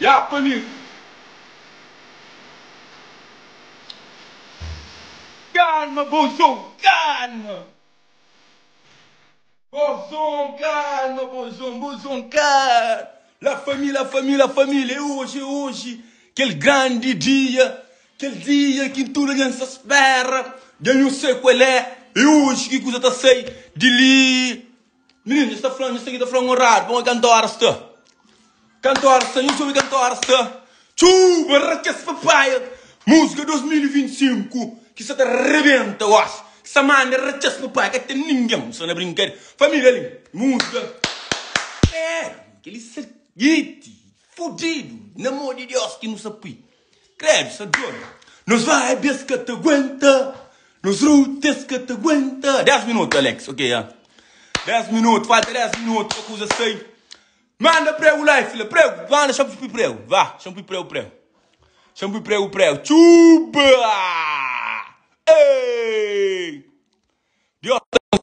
Ya pa mi Calma bozon calma Bozon calma bozon bozon calma La famille la famille la famille É hoje é hoje Kel grande dia Kel dia ki tudo nha sa spera Dja nhu sai kuel é É hoje ki kuza ta sai di li Mininu, nhos ta fla-m, nhos ta fla-m un radu, bon, e kantu óras sta? Kantu óras sta? Nhos obi kantu óras sta? Txuu! Barra kes papaia! Múzika 2025 ki sa ta rebenta gósi, ki sa manda ra kes papaia, ka ten ningen sa na brinkade. Família li, múzika. Êêê! Kel-li sa giti, fudidu, na amor di Deus ki nu sa pui. Credo sa dor Nos vibe es ka ta guenta Nos route es ka ta guenta 10 minuto Alex ok ya 10 minuto falta 10 minuto pa kuza sai Manda pregu la fila pregu Manda xa pui pregu va xa pui pregu pregu Xa pui pregu pregu Txuuba Eeii Deus ta nos.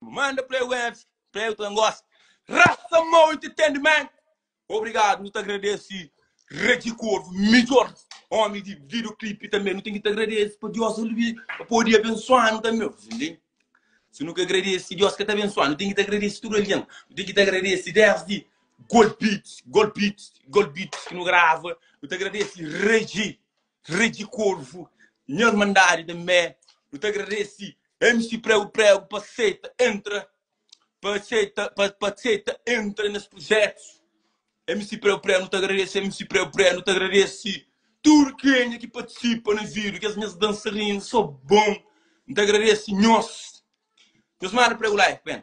Manda play webs play u ta na gosta. Rasa mau entertainment. Obrigado, nu ta agradece Regi Corvo, midjor homi di video clip tambe. Nu tem ki ta agradece pa Dios el vi pa podi abensuanu tambe. Vos entende? Si nu ka agradece Dios ka ta abensuanu. Nu tem ki ta agradece tudu algen. Nu tem ki ta agradece desdi Golbeats, Golbeats, Golbeats ki nu grava. Nu ta agradece Regi. Regi Corvo, nha irmandadi da mé, nu ta agradesi MC Prego Prego pa seita entra, pa seita, pa seita entra nes projetus. MC Prego Prego, nu ta agradesi MC Prego Prego, nu ta agradesi tudu kenha ki partisipa na vídiu, kes nhas dansarinu so bon. Nu ta agradesi nhos, nhos mara Prego Life, ben.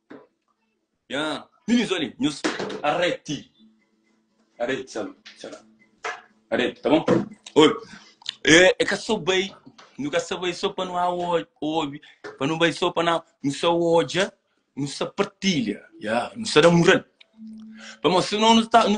Yeah. Ninis olha, nhos arrete. Arrete, sabe? Será? Arrete, tá bom? Olha, é, é que só bem, nunca só bem só para não há ouve, para não bem só para não, não só olha, não só partilha, yeah, não só dá moral. Vamos, senão não está, não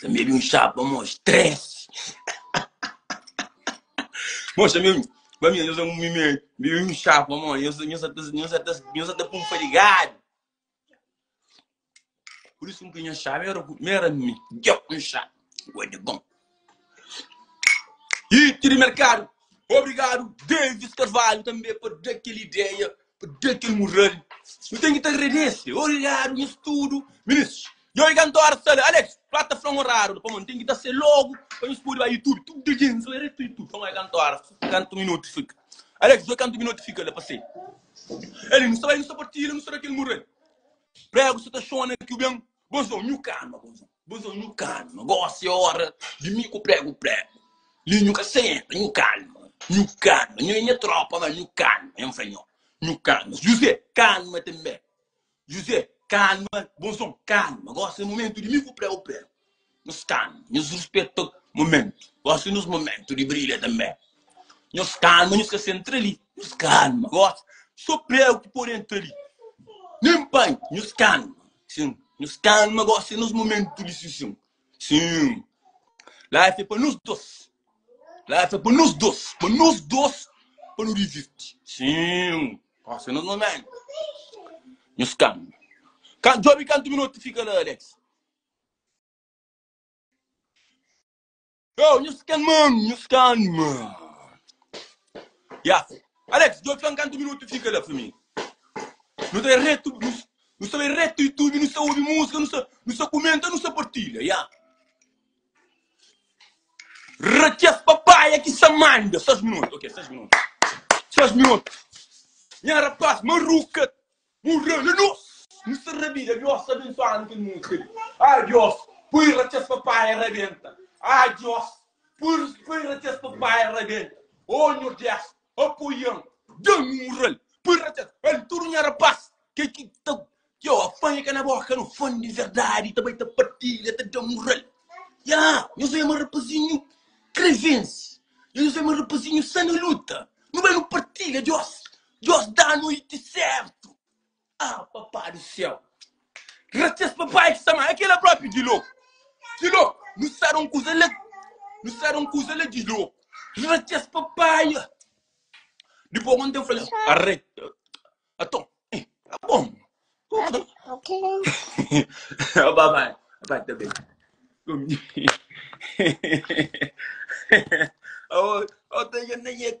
Sa mebi un chá pa mos três. Mos sa mebi, pa mi, nho sa mi mebi bebi un chá pa mos. Nho sa, nho sa ta, nho sa ta, nho sa ta pun fadigadu. Pur isu ki nho chama era, era mi, djoc un chá. Gode bom. E tiri merkadu. Obrigadu, Davis Carvalho, tanbe pa da kel ideia. P'de kel mural nu ten ki ta agradese Origádu nhas tudu Ministris Djo i kantor sta la Alex Fla ta fla-m oradu la Pamodi nu ten ki ta ser logu Pa nhos pode bai Yutubi Tudu dja djintu Sô eretu Yutubi Fla-m bai kantor Kantu minutu fika Alex Djo kantu minutu fika la Pa ser el Nu sta bai nu sta partilha Nu sta na kel mural Pregu sta ta xona ki u ben Bon son Nhu kama Bon son Bus ô nhu kalma, gósi é óra di mi ku pregu pregu li nhu ka senta nhu kalma nhu kalma nhu é nha trópa má nhu kalma N fla nho nhu kalma Juzé kalma tanbê Juzé kalma bus ô kalma gósi é momentu di mi ku pregu pregu nhos kalma nhos ruspeta momentu gósi nos momentu di brilha tanbê nhos kalma nhos ka sentra li nhos kalma gósi sô pregu ki pode entra li nen panha nhos kalma Sim, nos calma gosi nos momento di sission. Sim, life é pa nos dos. Life é pa nos dos, pa nos dos pa nu divirti. Sim, gosi nos momento. Nos calma. Ka djobi kantu minuto fika la Alex. Yo, nhos ken man, nhos kan man. Ya. Alex, djo txon kantu minutu fika la pa mi. Nu ta retu, nu, nu sta bai retu YouTube, nu sta obi musika, nu sta, nu sta kumenta, nu sta partilha, ya. Raquez papaya ki sa manda, 6 minutu, ok, 6 minutu. 6 minutu. Nha rapaz, maruka Morreu la nos. Nu sta rabida Diós abensuanu kel música li ah Diós poi ratxas pa paia rabenta ah Diós poi poi ratxas pa paia rabenta oh Nhordés apoian dan nu moral poi ratxas el tudo nha rapaz kel ki ta txeu apanha ka na boca nu fã di verdade ta bai ta partilha ta dan moral yeah nhos ema rapazinho krevense nhos ema rapazinho sa na luta nu bai nu partilha Diós Diós dá noite sértu. Ah, Papá di Séu. Gracias Papai ki sa ma. É kela própi di loku. Di loku. Nu sa da un kuza la. Nu sa da un kuza la di loku. Gracias Papai. Dipô ku un ténpu falal. Arre. Aton. Eh, tá bom. Ok. Ó, Papai. Papai, tá bem. Comi. Ó, ó, tá já nem é.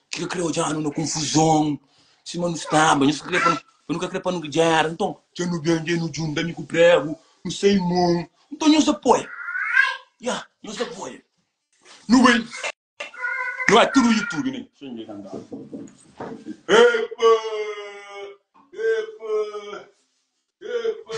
Ki ka kre odjanu na konfuzon Sima nu staba nhos ka kre pa nu ka kre pa nu gera Nton dja nu ben dja nu djunta mi ku pregu nu sai mon Nton nhos apoia yeah nhos apoia Nu bai nu bai tudu youtube ne Xinha dja kantaba Epa epa epa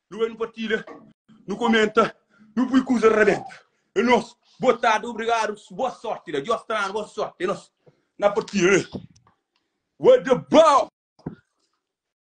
Nu bai nu partilha, nu komenta, nu pui kuza rabenta. É nos. Boa tarde, obrigado, boa sorte, la. Dios tra-nu boa sorte, é nos. Na partilha, né? What the ball?